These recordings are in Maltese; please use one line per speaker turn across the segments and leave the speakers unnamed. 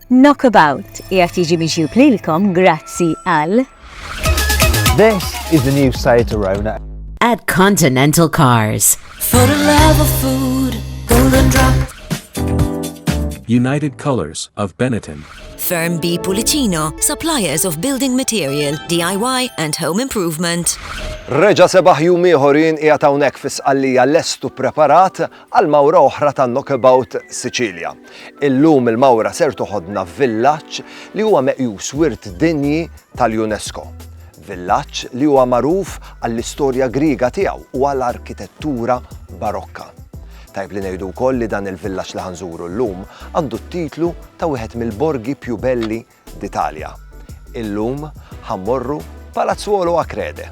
Knockabout qiegħed jiġi miġjub lilkom grazzi għal
This is the new site to Rona. At Continental
Cars. For the love
of food, golden drop. United
Colors of Benetton. Firm B
Pulicino, suppliers of building material, DIY and home improvement. Reġa sebaħ
jum ieħorin qiegħed hawnhekk fis-qallija lestu preparat għal mawra oħra ta' Knockabout Sicilia. Illum il-mawra ser toħodna f'villaġġ li huwa meqjus Wirt Dinji tal-UNESCO. Villaġġ li huwa magħruf għall-istorja Griega tiegħu u għal arkitettura Barokka. Tajjeb li ngħidu wkoll li dan il-villaġġ li ħa nżuru llum għandu t-titlu ta' wieħed mill-borgi più belli d'Italia. Illum ħa mmorru Palazzuolo Acrede.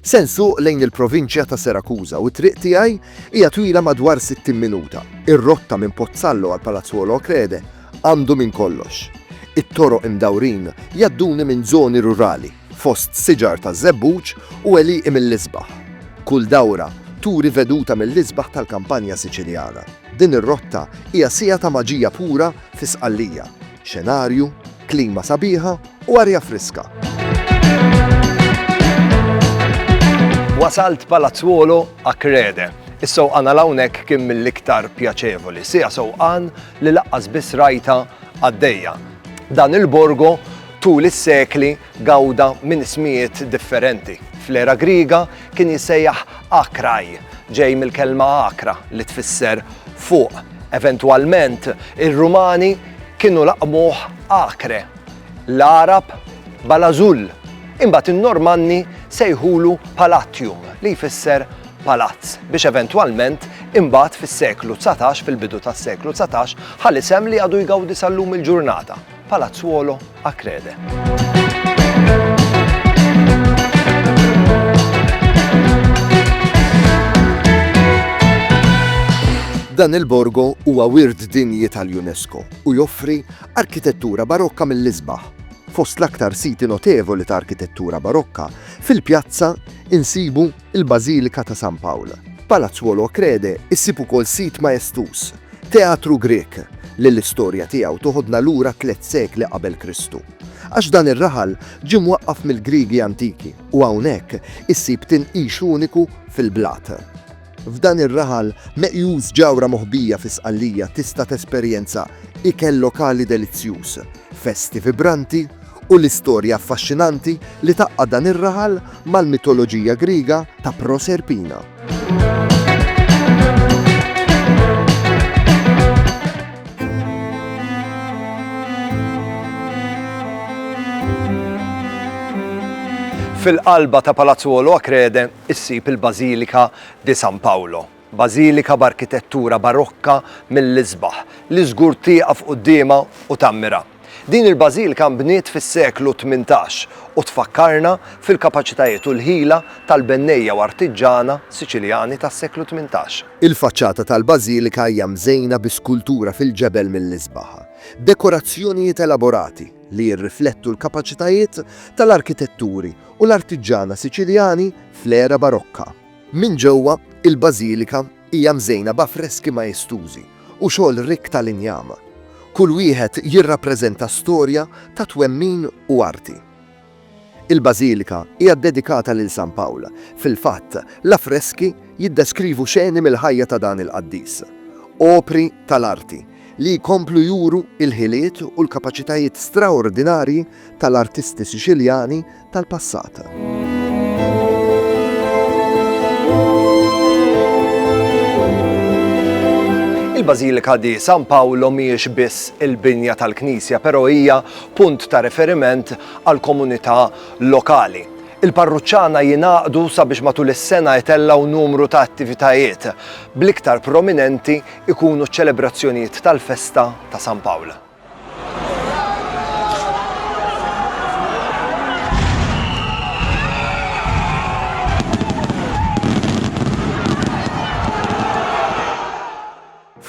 Se nsuq lejn il-provinċja ta' Serakuża u t-triq tiegħi hija twila madwar 60 minuta. Ir-rotta minn Pozzallo għal Palazzuolo Acrede għandu minn kollox. It-toroq imdawrin jgħadduni minn żoni rurali, fost siġar taż-żebbuġ u għelieqi mill-isbaħ. Kull dawra turi veduta mill-isbaħ tal-kampanja Siċiljana. Din ir-rotta hija siegħa ta' maġija pura fi Sqallija, xenarju, klima sabiħa, u arja friska. Wasalt Palazzuolo a Crede. Is-sewqan għal hawnhekk kien mill-iktar pjaċevoli, sija sewqan li laqqas biss rajta għaddejja. Dan il-borgo tul is-sekli gawda minn ismijiet differenti. Fl-era Griga kien jissejjaħ Akraj, ġej mill-kelma Akra li tfisser fuq. Eventwalment, ir-Rumani kienu laqmuh Akre L-Għarab Balażull, imbagħad in-Normanni sejħulu Palatium li jfisser palazz, biex eventwalment imbagħad fis-seklu dsatax, fil-bidu tas-seklu dsatax, ħa l-isem li għadu jgawdi sal-lum il-ġurnata, Palazzuolo Acrede. Dan il-borgo huwa wirt dinji tal-UNESCO u joffri Arkitettura Barokka mill-isbaħ, Fost l-aktar siti notevoli ta' arkitettura Barokka, fil-pjazza insibu l-Bażilika ta' San Pawl. F'Palazzuolo Acrede issib ukoll sit maestuż, Teatru Grieg, li l-istorja tiegħu toħodna lura tliet sekli qabel Kristu. Għax dan ir-raħal ġie mwaqqaf mill-Griegi antiki u hawnhekk issib tinqix uniku fil-blat. F'dan ir-raħal meqjus ġawra moħbija fi Sqallija tista' tesperjenza ikel lokali delizzjuż, festi vibranti u l-istorja affaxxinanti li tgħaqqad dan ir-raħal mal-mitoloġija Griega ta' Proserpina. Fil-qalba ta' Palazzu Oloakrede, issib il-Bażilika di San Paolo, bażilika b'arkitettura barokka mill-isbaħ, li żgur tieqaf quddiemha u tammira. Din il-bażilika nbniet fis-seklu tmintax u tfakkarna fil-kapaċitajiet u l-ħila tal-bennejja u artiġġana Siċiljani tas-seklu tmintax. Il-faċċata tal-bażilika hija mżejna bi skultura fil-ġebel mill-isbaħ, dekorazzjonijiet elaborati li jirriflettu l-kapaċitajiet tal-arkitetturi u l-artiġġana Siċiljani fl-era Barokka. Minn ġewwa, il-bażilika hija mżejna b'affreski maestużi u xogħol rikk tal-injam. Kull wieħed jirrappreżenta storja ta' twemmin u arti. Il-bażilika hija ddedikata lil San Pawl, fil-fatt, l-affreski jiddeskrivu xeni mill-ħajja ta' dan il-qaddis. Opri tal-arti li jkomplu juru l-ħiliet u l-kapaċitajiet straordinarji tal-artisti Siċiljani tal-passat. Il-Bażilika di San Paolo mhijiex biss il-binja tal-Knisja, però hija punt ta' riferiment għal komunità lokali. Il-parruċċana jingħaqdu sabiex matul is-sena jtellgħu numru ta' attivitajiet, bl-iktar prominenti ikunu ċ-ċelebrazzjonijiet tal-festa ta' San Pawl.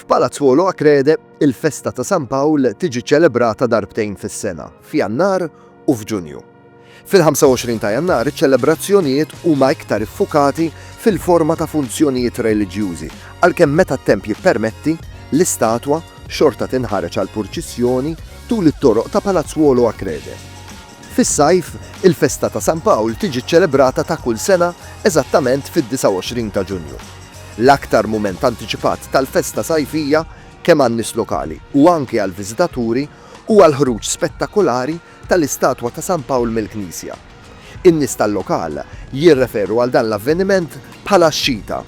Palazzuolo Acrede, il-festa ta' San Pawl tiġi ċelebrata darbtejn fis-sena, f'Jannar u f'Ġunju. Fil-25 ta' Jannar iċ-ċelebrazzjonijiet huma iktar iffukati fil-forma ta' funzjonijiet reliġjużi, għalkemm meta t-temp jippermetti, l-istatwa xorta tinħareġ għall-purċissjoni tul it-toroq ta' Palazzuolo Acrede. Fis-sajf, il-festa ta' San Pawl tiġi ċċelebrata ta' kull sena eżattament fid-29 ta' Ġunju. L-aktar mument antiċipat tal-festa sajfija, kemm għan-nies lokali u anki għall-viżitaturi, huwa l-ħruġ spettakolari tal-istatwa ta' San Pawl mill-knisja. In-nies tal-lokal jirreferu għal dan l-avveniment bħala x-Xita,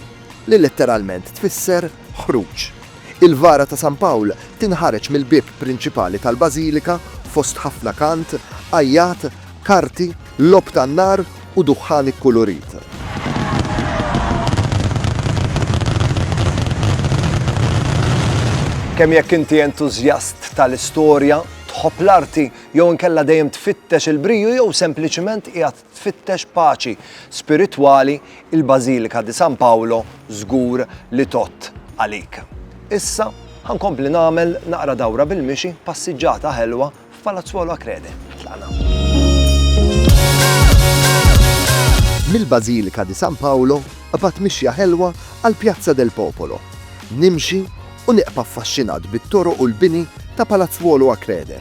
li letteralment tfisser ħruġ. Il-vara ta' San Pawl tinħareġ mill-bieb prinċipali tal-bażilika fost ħafna kant, għajjat, karti, logħob tan-nar u duħħan ikkulurit. Kemm jekk inti entużjast tal-istorja, Tħobb l-arti jew inkella dejjem tfittex il-briju jew sempliċiment qiegħed tfittex paċi spiritwali, il-Bażilika di San Paolo żgur li tgħodd għalik. Issa ħa nkompli nagħmel naqra dawra bil-mixi passiġġata ħelwa f'Palazzuolo Acrede. Tlaqna. Mill-Bażilika di San Paolo qabad mixja ħelwa għal Pjazza del Popolo. Nimxi u nibqa' affaxxinat bit-toroq u l-bini ta' Palazzuolo a Crede.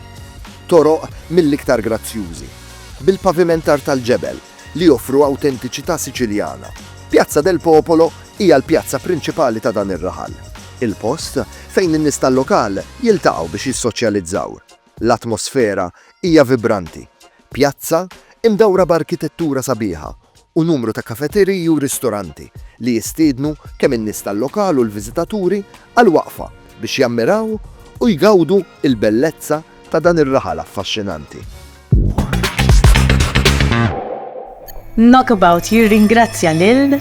Toroq mill-iktar grazzjużi, bil-pavimentar tal-ġebel, li joffru awtentiċità Siċiljana. Piazza del Popolo hija l-pjazza prinċipali ta' dan ir-raħal, il-post fejn in-nies tal-lokal jiltaqgħu biex jissoċjalizzaw. L-atmosfera hija vibranti, pjazza imdawra b'arkitettura sabiħa u numru ta' kafeteriji u ristoranti li jistiednu kemm in-nies tal-lokal u l-viżitaturi għal waqfa biex jammiraw u jgawdu l-bellezza ta' dan ir-raħal affaxxinanti.
Knockabout jirringrazzja lil.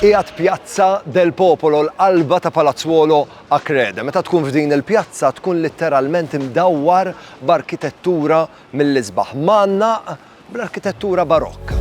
qiegħed Pjazza del Popolo l-qalba ta' Palazzuolo Akrede. Meta tkun f'din il-pjazza tkun litteralment imdawwar b'arkitettura mill-isbaħ. Manna bl-arkitettura Barokka.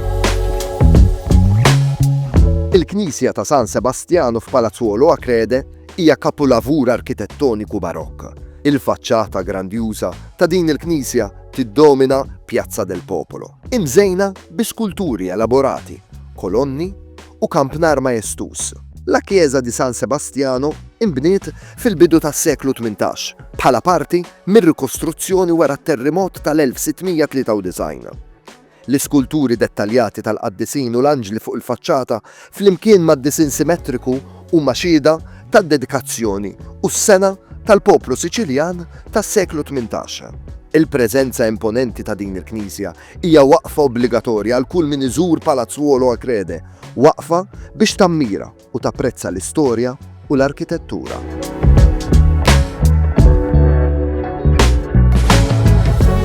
Il-knisja ta' San Sebastjanu f'Palazzuolo Acrede hija kapulavur arkitettoniku Barokk. Il-faċċata grandjuża ta' din il-knisja tiddomina Piazza del Popolo, imżejna bi skulturi elaborati, kolonni, u kampnar majestuż. La Chiesa di San Sebastiano inbniet fil-bidu tas-seklu tmintax bħala parti mir-rikostruzzjoni wara t-terrimot tal-1693. L-iskulturi dettaljati tal-qaddisin u l-anġli fuq il-faċċata flimkien mad-disinn simetriku huma xhieda tad-dedikazzjoni u s-sengħa tal-poplu Siċiljan tas-seklu tmintax. Il-preżenza imponenti ta' din il-knisja Hija waqfa obbligatorja għal kull min iżur Palazzuolo a Crede, waqfa biex tammira u tapprezza l-istorja u l-arkitettura.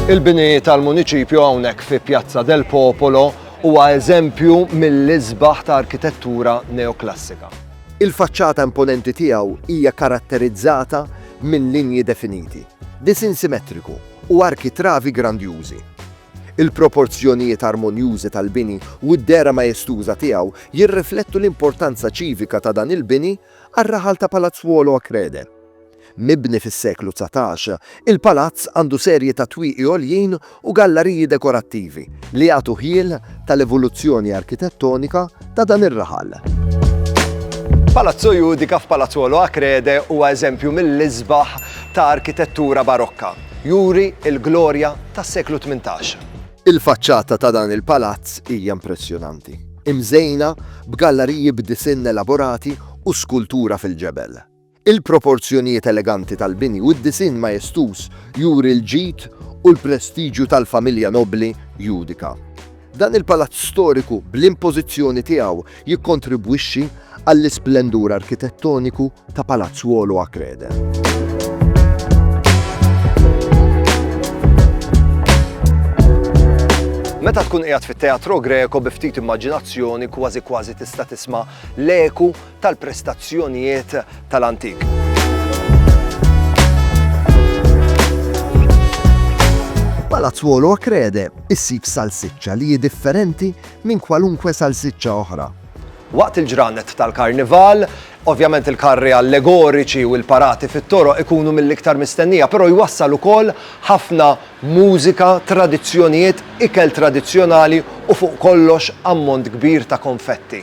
Il-bini tal-Muniċipju hawnhekk fi Pjazza del Popolo huwa eżempju mill-isbaħ ta' arkitettura neoklassika. Il-faċċata imponenti tiegħu hija karatterizzata minn linji definiti, disin simetriku u arkitravi grandjużi. Il-proporzjonijiet armonjużi tal-bini u d-dehra majestuża tiegħu jirriflettu l-importanza ċivika ta' dan il-bini għar-raħal ta' Palazzuolo a Crede. Mibni fis-seklu dsatax, il-palazz għandu serje ta' twieqi għoljin u gallariji dekorattivi li jagħtu ħjiel tal-evoluzzjoni arkitettonika ta' dan ir-raħal. Palazzo Judica f'Palazzuolo Acrede huwa eżempju mill-isbaħ ta' arkitettura Barokka. Juri l-glorja tas-seklu tmintax. Il-faċċata ta' dan il-palazz hija impressjonanti, imżejna b'gallariji b'disinn elaborati u skultura fil-ġebel. Il-proporzjonijiet eleganti tal-bini u d-disinn majestuż juri l-ġid u l-prestiġju tal-familja nobbli Judica. Dan il-palazz storiku bl-impożizzjoni tiegħu jikkontribwixxi għall-isplendur arkitettoniku ta' Palazz Wolo a Crede. Meta tkun qiegħed fit-Teatro Greco bi ftit immaġinazzjoni kważi kważi tista' tisma' l-eku tal-prestazzjonijiet tal-antik. Palazzuolo Acrede issib salsiċċa li hi differenti minn kwalunkwe salsiċċa oħra. Waqt il-ġranet tal-karnival, Ovvjament il-karri allegoriċi u l-parati fit-toro ikunu mill-iktar mistennija, però jwassal ukoll ħafna mużika, tradizzjonijiet, ikel tradizzjonali u fuq kollox ammont kbir ta' konfetti.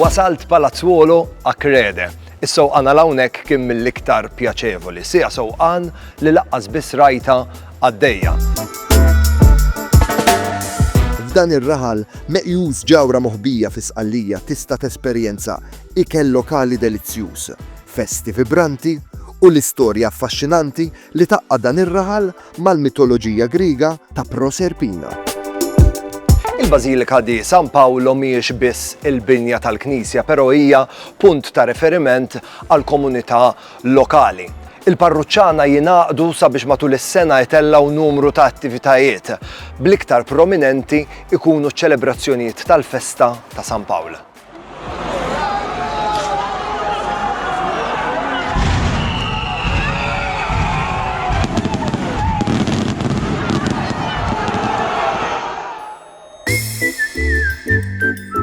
Wasalt Palazzuolo a Crede. Is-sewqan għal hawnhekk kien mill-iktar pjaċevoli. Sija sewqan li laqqas biss rajta għaddejja. F'dan ir-raħal meqjus ġawra moħbija fi Sqallija tista' tesperjenza ikel lokali delizzjuż. festi vibranti u l-istorja affaxxinanti li tgħaqqad dan ir-raħal mal-mitoloġija Griega ta' Proserpina. Il-Bażilika di San Paolo mhijiex biss il-binja tal-knisja, però hija punt ta' riferiment għall-komunità lokali. Il-parruċċana jingħaqdu sabiex matul is-sena jtellgħu numru ta' attivitajiet, bl-iktar prominenti jkunu ċ-ċelebrazzjonijiet tal-festa ta' San Pawl.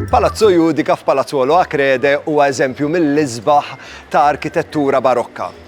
Palazzo Judika f'Palazzolo Acrede huwa eżempju mill-isbaħ ta' arkitettura barokka.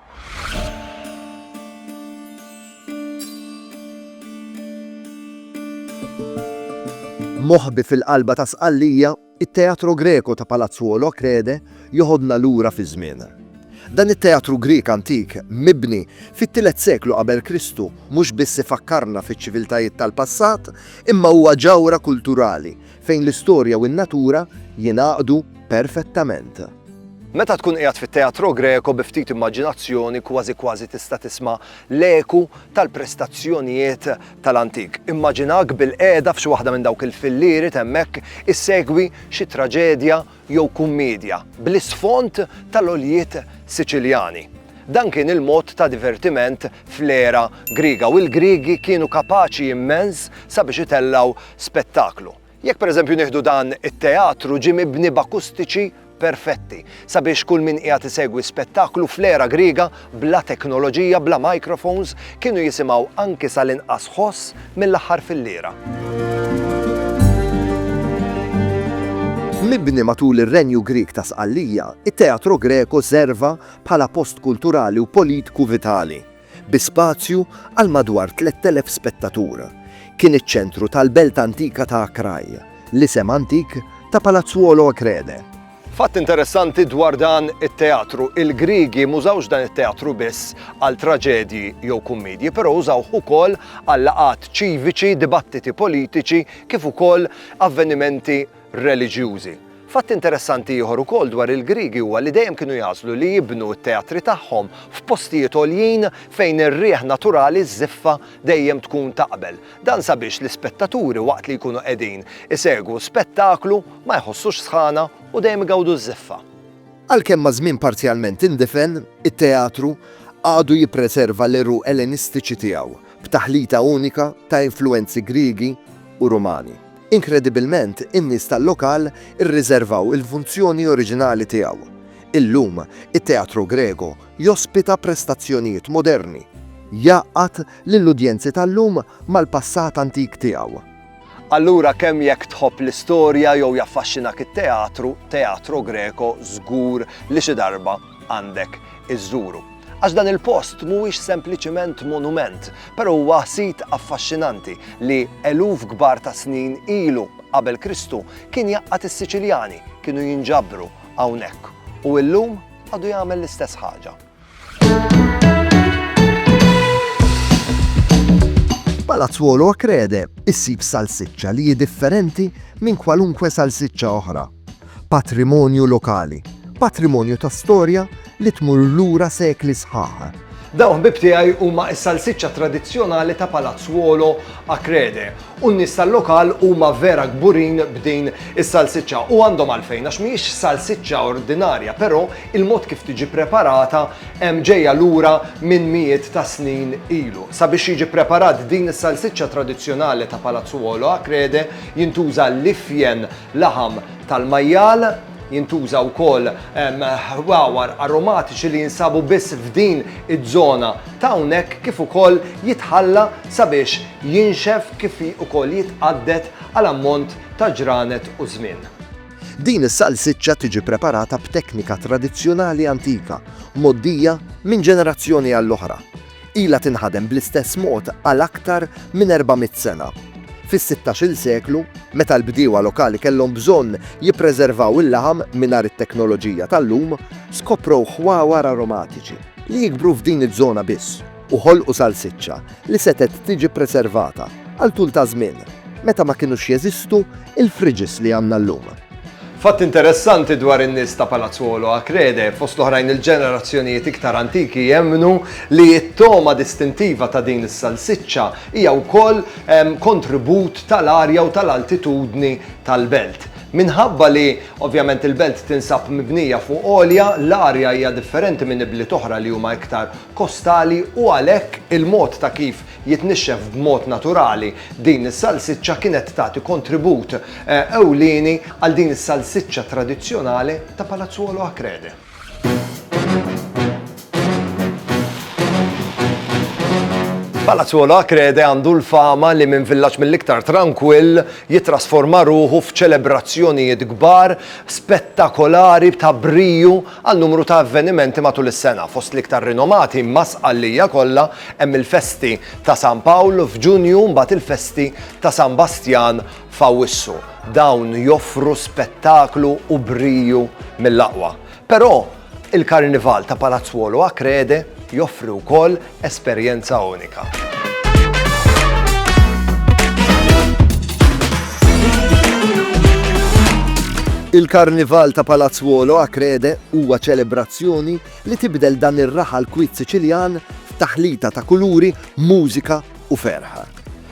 Moħbi fil-qalba ta' Sqallija, it-Teatro Greco ta' Palazzuolo Achrede joħodna lura fiż-żmien. Dan it-teatru Grieg antik, mibni fit-tielet seklu qabel Kristu, mhux biss ifakkarna fiċ-ċiviltajiet tal-passat, imma huwa ġawhra kulturali Fejn l-istorja u n-natura jingħaqdu perfettament. Meta tkun qiegħed fit-Teatro Greco bi ftit immaġinazzjoni kważi kważi tista' tisma' l-eku tal-prestazzjonijiet tal-antik. Immaġinahk bilqiegħda f'xi waħda minn dawk il-fillieri t'hemmhekk issegwi xi traġedja jew kummiedja bl-isfond tal-għoljiet Siċiljani. Dan kien il-mod ta' divertiment fl-era Griega u l-Griegi kienu kapaċi immens sabiex itellgħu spettaklu. Jekk pereżempju nieħdu dan it-teatru ġie mibni b'akustiċi perfetti sabiex kull min qiegħed isegwi spettaklu fl-era Griega bla teknoloġija, bla microphones, kienu jisimgħu anki sal-inqas ħoss mill-aħħar filliera. Mibni matul ir-Renju Grieg ta' Sqallija, it-Teatro Greco serva bħala post kulturali u politku vitali, bi spazju għal madwar 3,000 spettatur. Kien iċ-ċentru tal-belt antika ta' Akraj, l-isem antik ta' Palazzuolo Akrede. Fatt interessanti dwar dan it-teatru, il-Griegi m'użawx dan it-teatru biss għal traġedji jew kummedji, però użawh ukoll għal laqgħat ċiviċi, dibattiti politiċi kif ukoll avvenimenti reliġjużi. Fatt interessanti ieħor ukoll dwar il-Griegi huwa li dejjem kienu jagħżlu li jibnu t-teatri tagħhom f'postijiet għoljin fejn ir-riħ naturali żiffa dejjem tkun taqbel. Dan sabiex l-ispettaturi waqt li jkunu qegħdin isegwu spettaklu ma jħossux sħana u dejjem igawdu ż-żiffa. Għalkemm
maż-żmien parzjalment indifen, it-teatru għadu jippreserva l-għeruq Ellenistiċi tiegħu, b'taħlita unika ta' influwenzi Griegi u Rumani. Inkredibilment, in-nies tal-lokal irriżervaw il-funzjoni oriġinali tiegħu. Illum, it-Teatro Grego Jospita prestazzjonijiet moderni. Jgħaqqad lill-udjenzi tal-lum mal-passat antik tiegħu. Allura
kemm jekk tħobb l-istorja jew jaffaxxinak it-teatru, Teatro Greco żgur li xi darba għandek iżżuru. Għax dan il-post mhuwiex sempliċiment monument, però huwa sit affaxxinanti li eluf kbar ta' snin ilu qabel Kristu kien jgħaqqad is-Siċiljani kienu jinġabru hawnhekk u illum għadu jagħmel l-istess ħaġa.
Palazzuolo Acrede issib salsiċċa li hi differenti minn kwalunkwe salsiċċa oħra. Patrimonju lokali, patrimonju ta' storja li tmur lura sekli sħaħ Dawn ħbib tiegħi
huma s-salsiċċa tradizzjonali ta' Palazzuolo Acrede u n-nies tal-lokal huma vera kburin b'din is-salsiċċa u għandhom għalfejn għax mhijiex salsiċċa ordinarja, però il-mod kif tiġi preparata hemm ġejja lura minn mijiet ta' snin ilu. Sabiex jiġi preparat din is-salsiċċa tradizzjonali ta' Palazzuolo a Crede jintuża l-ifjen laħam tal-majjal, Jintuża wkoll ħwawar aromatiċi li jinsabu biss f'din iż-żona ta' hawnhekk kif ukoll jitħalla sabiex jinxef kif ukoll jitqadded għal ammont ta' ġranet u żmien. Din
is-salsiċċa tiġi preparata b'teknika tradizzjonali antika, mgħoddija minn ġenerazzjoni għall-oħra. Ilha tinħadem bl-istess mod għal aktar minn 400 sena. Fis-sittax-il seklu, meta l-bdiewa lokali kellhom bżonn jippreservaw il-laħam mingħajr it-teknoloġija tal-lum, skoprow ħwawar aromatiċi li jikbru f'din iż-żona biss u ħolqu salsiċċa li setgħet tiġi ppreservata għal tul ta' żmien, meta ma kinux jeżistu l-fridges li għandna llum. Fatt
interessanti dwar in-nies ta' Palazzuolo a Crede, fost l-oħrajn il-ġenerazzjonijiet iktar antiki jemmnu li t-togħma distintiva ta' din is-salsiċċa hija wkoll kontribut tal-arja u tal-altitudni tal-belt. Minħabba li, ovvjament, il-belt tinsab mibnija fuq għolja, l-arja hija differenti minn ibliet oħra li huma iktar kostali u għalhekk il-mod ta' kif jitnixxef b'mod naturali, din is-salsiċċa kienet tagħti kontribut ewlieni għal din is-salsiċċa tradizzjonali ta' Palazzuolo Acrede. Palazzuolo Acrede għandu l-fama li minn villaġġ mill-iktar trankwill jittrasforma ruħu f'ċelebrazzjonijiet kbar, spettakolari, ta' briju, Għal numru ta' avvenimenti matul is-sena, fost l-iktar rinomati ma' Sqallija kollha, hemm il-festi ta' San Pawl f'Ġunju u mbagħad il-festi ta' San Bastjan f'Awwissu. Dawn joffru spettaklu u briju mill-aqwa. Però, il-Karnival ta' Palazzuolo Achrede joffri wkoll Esperjenza unika.
Il-Karnival ta' Palazzuolo a Crede huwa ċelebrazzjoni li tibdel dan ir-raħal kwit Siċiljan f'taħlita ta' kuluri, mużika u ferħa.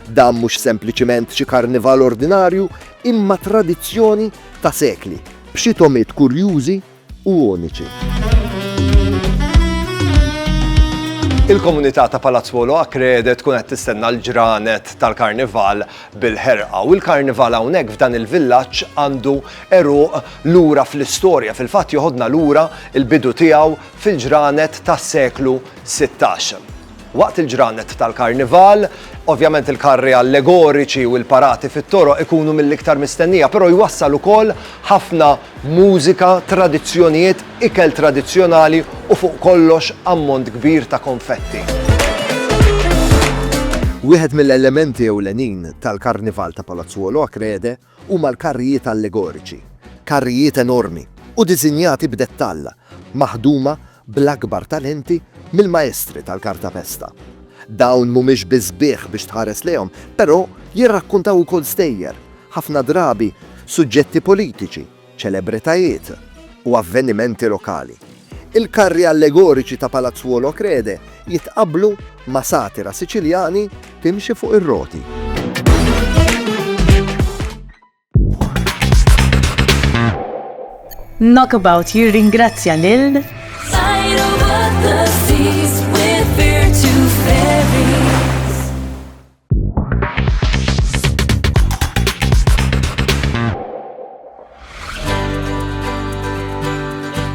Dan mhux sempliċiment xi karnival ordinarju imma tradizzjoni ta' sekli b'xi tomiet kurjużi u uniċi.
Il-komunità ta' Palazzuolo Acrede tkun qed tistenna l-ġranet tal-Karnival bil-ħerqa u l-Karnival hawnhekk f'dan il-villaġġ għandu eruq lura fl-istorja fil-fatt joħodna lura il-bidu tiegħu fil-ġranet tas-seklu 16. Waqt il-ġranet tal-Karnival, ovvjament il-karri allegoriċi u l-parati fit-toroq ikunu mill-iktar mistennija, però jwassal ukoll ħafna mużika, tradizzjonijiet, ikel tradizzjonali u fuq kollox ammont kbir ta' konfetti.
Wieħed mill-elementi ewlenin tal-Karnival ta' Palazzuolo Acrede huma l-karrijiet allegoriċi, karrijiet enormi u diżinjati b'dettall, maħduma bl-akbar talenti mill-maestri tal-kartapesta. Dawn mhumiex biss sbieħ biex tħares lejhom, però jirrakkuntaw ukoll stejjer, ħafna drabi suġġetti politiċi, ċelebritajiet u avvenimenti lokali. Il-karri allegoriċi ta' Palazzuolo Crede jitqabblu ma' satira Siċiljani timxi fuq ir-roti.
Knockabout jirringrazzja lil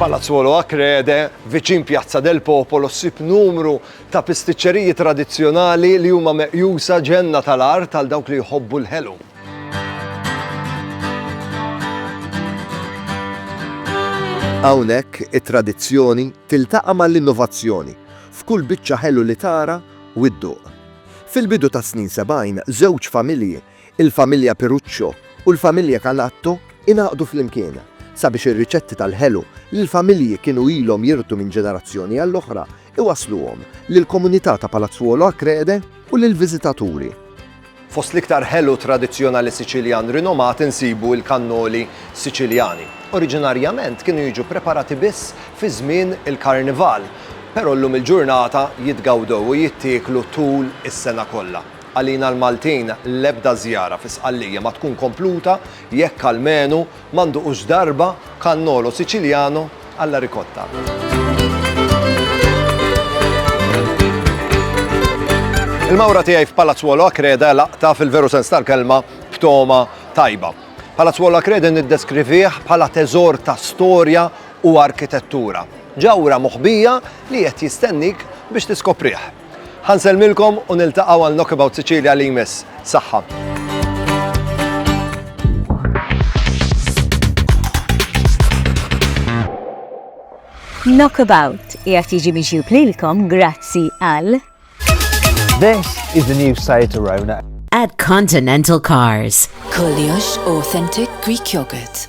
Palazzuolo Acrede, viċin Pjazza del Popolo, ssib numru ta' pistiċċeriji tradizzjonali li huma meqjusa ġenna tal-art għal dawk li jħobbu l-ħelu.
Hawnhekk it-tradizzjoni tiltaqa' mal-innovazzjoni f'kull biċċa ħelu li tara u dduq. Fil-bidu tas-snin sebgħin, żewġ familji, il-familja Piruccio u l-familja Canatto, ingħaqdu flimkien sabiex ir-riċetti tal-ħelu li l-familji kienu ilhom jirtu minn ġenerazzjoni għall-oħra iwassluhom lill-komunità ta' Palazzuolo Acreide u lill-viżitaturi. Fost
l-iktar ħelu tradizzjonali Siċiljan rinomat insibu l-kannoli Siċiljani. Oriġinarjament kienu jiġu ppreparati biss fi żmien il-Karnival, Però llum il-ġurnata jitgawdew u jittieklu tul is-sena kollha. Għalina l-Maltin l-ebda żjara fi Sqallija ma tkun kompluta jekk almenu ma nduqux darba cannolo siciliano alla ricotta. Il-mawra tiegħi f'Palazzuolo Acreda hi laqta fil-veru sens tal-kelma b'togħma tajba. Palazzuolo Acreda niddeskrivih bħala teżor ta' storja u arkitettura ġawhra moħbija li qiegħed jistennik biex tiskoprih. Ħa nsellmilkom u niltaqgħu għal Knockabout Sicilia li jmiss. Saħħa!
Knockabout jgħat jiġi miġjub lilkom grazzi għal.
This is the new site to Rona. At Continental
Cars. Koliosh
Authentic Greek Yogurt.